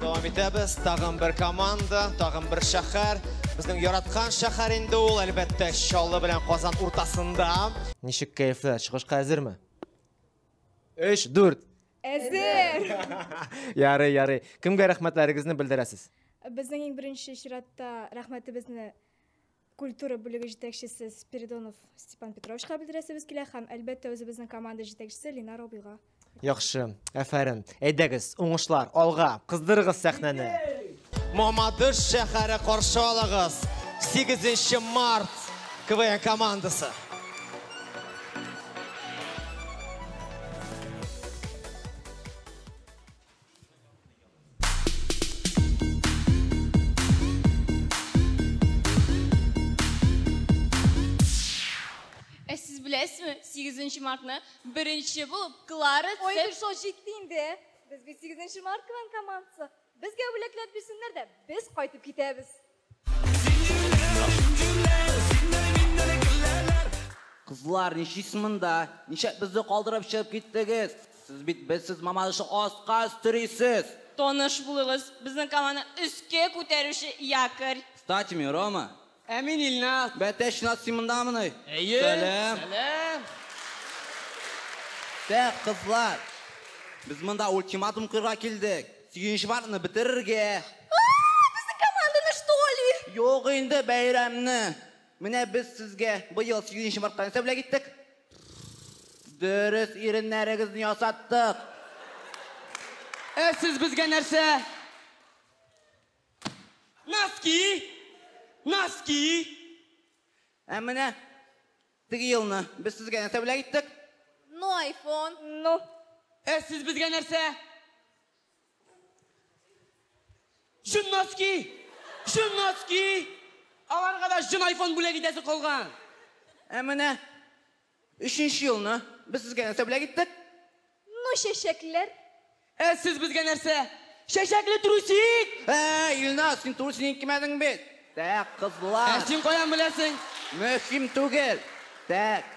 Дәвам итәбез. Тагын бер команда, тагын бер шәһәр. Безнең яраткан шәһәр инде ул, әлбәттә, Чаллы белән Казан уртасында. Ничек кәефләр? Чыгышка әзерме? 3 4 Әзер! Ярый, ярый. Кемгә рәхмәтләрегезне белдерәсез? Безнең иң беренче чиратта рәхмәтебезне культура бүлеге җитәкчесе Спиридонов Степан Петровичка белдерәсебез килә һәм әлбәттә үзебезнең команда җитәкчесе Линар абыйга. Яхшы, әфәрен. Әйдәгез, уңышлар, алга, кыздырыгыз сәхнәне. Мамадыш шәһәре каршы алыгыз. 8 март КВН командасы. Ә сез беләсезме, 8 мартны беренче булып Клара Цеп... Ой, бер шо җитте инде. Без бит 8 март командасы. Безгә бүләкләр бирсеннәр дә, без кайтып китәбез. Кызлар, ничисез монда? Ничек безне калдырып чыгып киттегез? Сез бит безсез Мамадышны аска өстерисез! Таныш булыгыз, безнең команданы өскә күтәрүче якорь. Кстати, мин Рома. Ә мин Ильназ. Бәтәч Ильназ, син мондамыни? Әйе. Сәлам. Сәлам. Тә, кызлар, без монда ультиматум куярга килдек. Сөенч паркны бетерергә. Ааа, безнең команданы что ли? Юк инде бәйрәмне. Менә без сезгә быел Сөенч парктан нәрсә бүләк иттек? Дөрес иреннәрегезне ясаттык. Ә сез безгә нәрсә? Носки! Носки! Ә менә Теге елны без сезгә нәрсә бүләк иттек? Ну, айфон. Ну. Ә сез безгә нәрсә? Җон носки! Җон носки! Аларга да җон айфон бүләк итәсе калган. Ә менә өченче елны без сезгә нәрсә бүләк иттек? Ну чәчәкләр. Ә сез безгә нәрсә? Чәчәкле трусик! Ә, Илназ, син трусигны кимәдең бит. Так, кызлар. Ә син каян беләсең? Мөһим түгел. Так,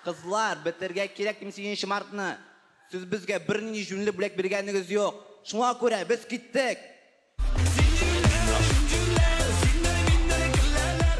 кызлар, бетергә кирәк дим сигезенче мартны. Сез безгә бернинди җүнле бүләк биргәнегез юк. Шуңа күрә без киттек. Зинҗирләр, зинҗирләр, зиннәр-миннәр, гелләләр.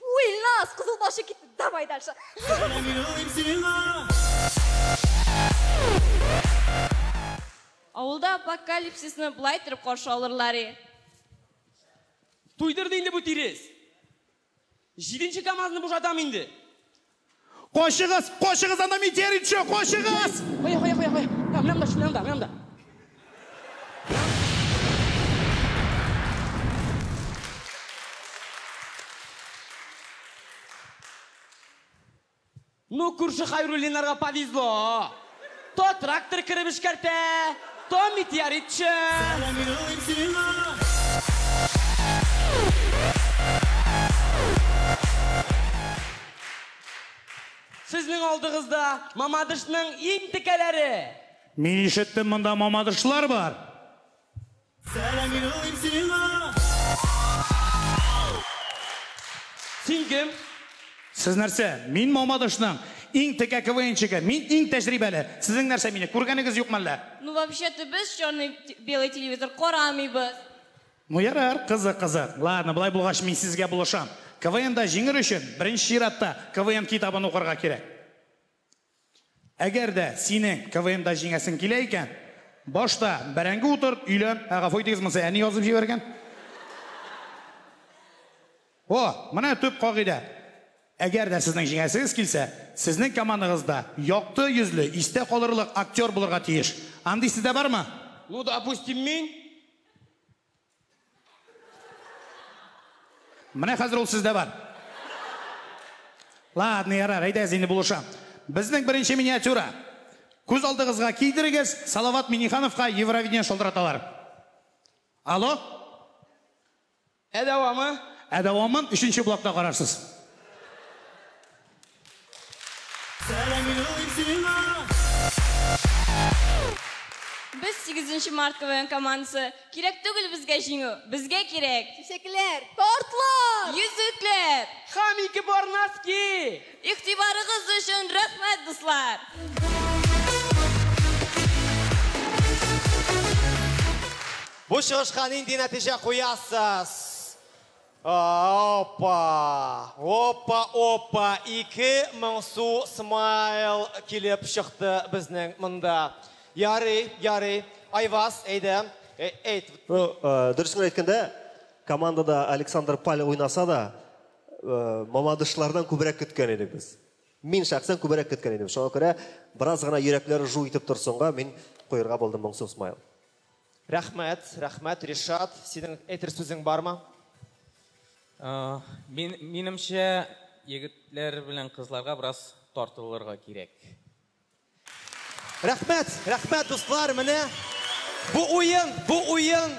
Уй, Ильназ, кызыл башы китте. Давай дальше. Авылда апокалипсисны былай торып каршы алырлар и. Туйдырды инде бу тирес. Җиденче КАМАЗны бушатам инде. Качыгыз! Качыгыз! Анда метеорит төшә! Качыгыз! Кая, кая, кая, кая? Менә монда, менә монда, менә монда. Ну, күрше Хайруллиннарга повезло. То трактор кереп эшкәртә, то метеоритчы. Сезнең алдыгызда Мамадышның иң текәләре. Мин ишеттем, монда Мамадышлар бар. Сәлам юллыйм сиңа! Син кем? Сез нәрсә? Мин Мамадышның иң текә КВНчигы. Мин иң тәҗрибәле. Сезнең нәрсә мине күргәнегез юкмы әллә? Ну вообще-то без черный белый телевизор карамыйбыз. Ну ярар, кызык кызык. Ладно, болай булгач мин сезгә булышам. КВНда җиңер өчен, беренче чиратта, КВН китабын укырга кирәк. Әгәр дә синең КВНда җиңәсең килә икән, башта бәрәңге утырт, өйлән. Ә гафу итегез, монысы әни язып җибәргән. О, менә төп кагыйдә. Әгәр дә сезнең җиңәсегез килсә, сезнең командагыз да якты йөзле, истә калырлык актер булырга тиеш. Андыйсы да бармы? Ну, допустим, мин. Менә хәзер ул сездә бар. Ладно, ярар, әйдәгез инде булышам. Безнең беренче миниатюра. Күз алдыгызга кидерегез, Салават Минихановка Евровидение шылтыраталар. Алло? Ә дәвамы? Ә дәвамын өченче блокта карарсыз. Без сигезенче март КВН командасы. Кирәк түгел безгә җиңү, безгә кирәк. Чәчәкләр! Тортлар! Йөзекләр! Һәм ике пар носки! Игътибарыгыз өчен рәхмәт, дуслар! Бу чыгышка нинди нәтиҗә куясыз? Опа! Опа, опа! Ике моңсу смайл килеп чыкты безнең монда. Ярый, ярый. Айваз, әйдә, әйт. Ну, дөресен әйткәндә, командада Александр Паль уйнаса да, мамадышлардан күбрәк көткән идек без. Мин шәхсән күбрәк көткән идем. Шуңа күрә, бераз гына йөрәкләре жу итеп торсынга, мин куерга булдым моңсу смайл. Рәхмәт, рәхмәт, Ришат, синең әйтер сүзең бармы? Мин, минемчә, егетләр белән кызларга бераз тартылырга кирәк. Рәхмәт, рәхмәт, дуслар, менә бу уен, бу уен.